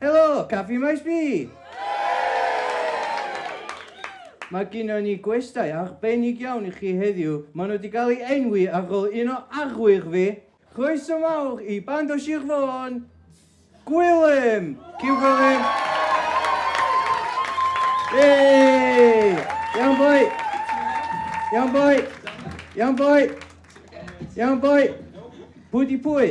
Helo, Caffi Maes B! Mae gynnon ni gwestai arbennig iawn i chi heddiw. Maen nhw wedi cael eu enwi ar ôl un o arwyr fi. Croeso mawr i band o Sir Fôn, Gwilym! Cyn Gwilym! Yey! Iawn boi! Iawn boi! Iawn boi! Iawn boi! Pwy di pwy?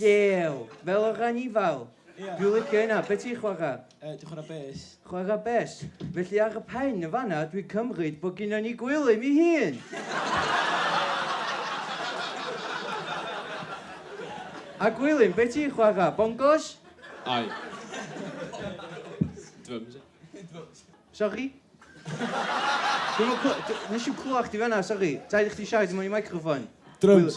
Llew. Fel yr anifail. Ia. Dwi'n licio hynna. Be ti'n chwarae? Yy, dwi'n chwarae bes. Chwarae bes. Felly ar y pen yn fan'na, dwi'n cymryd bod gynnon ni Gwilym ei hun! A Gwilym, be ti'n chwarae? Bongos? Ai. Drums, ia. Sori? Dwi'm yn cly- dw- nes i'm clywed chdi fan'na, sori. Rhaid i chdi siarad i mewn i microffon. Drums.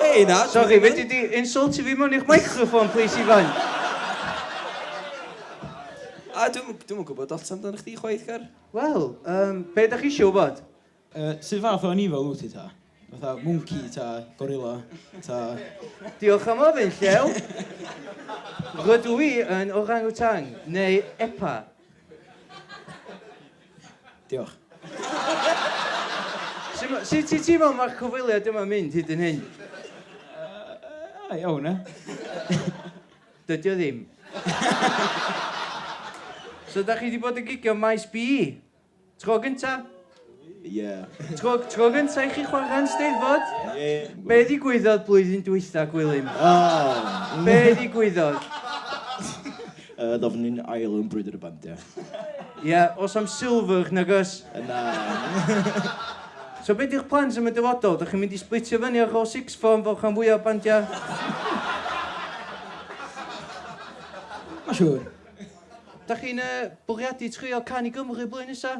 Hey, na. Sorry, fe di insultio fi mewn i'ch microphone, please, Ifan. A dwi'n dwi gwybod lot amdano chdi chwaith, Car. Wel, um, be da chi eisiau wybod? Uh, sut fath o anifail wyt ti ta? Fatha mwnci ta gorilla ta... Diolch am ofyn, Llew. Rydw i yn orangutang, neu epa. Diolch. Sut ti'n teimlo am y cyfweliad yma yn mynd hyd yn hyn? Iawn, ia? Dydy o ddim. So da chi wedi bod yn gigio ym Maes B? Tro gynta? Ie. Tro, tro gynta i chi chwarae yn Steddfod? Ie. Be ddigwyddodd blwyddyn dwytha, Gwilym? O! Be ddigwyddodd? Yy, ddof ni'n ail yn Brwydr y Bandiau. Ie, os am silfwch, nag oes? Yy, na. So be di'ch plans am y dyfodol? Dych chi'n mynd i splitio fyny ar ôl sixth form fel rhan fwyaf o bandiau? Mae'n siŵr. Dych chi'n yy, bwriadu trio Can i Gymru blwyddyn nesa?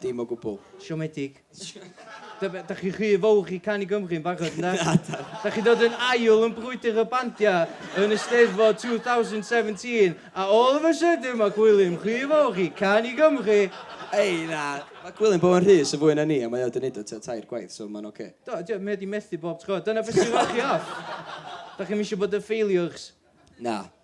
Dim o gwbl. Siomedig. Dych da chi'n rhy fawr i canu Gymru yn barod, ynde? Na, da. Da chi'n dod yn ail yn brwydr y bandiau yn y Steddfod 2017, a all of a sudden mae Gwilym rhy fawr i canu Gymru! Ei, na. Mae Gwilym bod yn rhy syfwy na ni, a mae o wedi wneud o tua tair gwaith, so mae'n ocê. Do, dio, mae o wedi methu bob tro. Dyna beth sy'n rhoi chi off. Da chi'm eisiau bod yn failures. Na.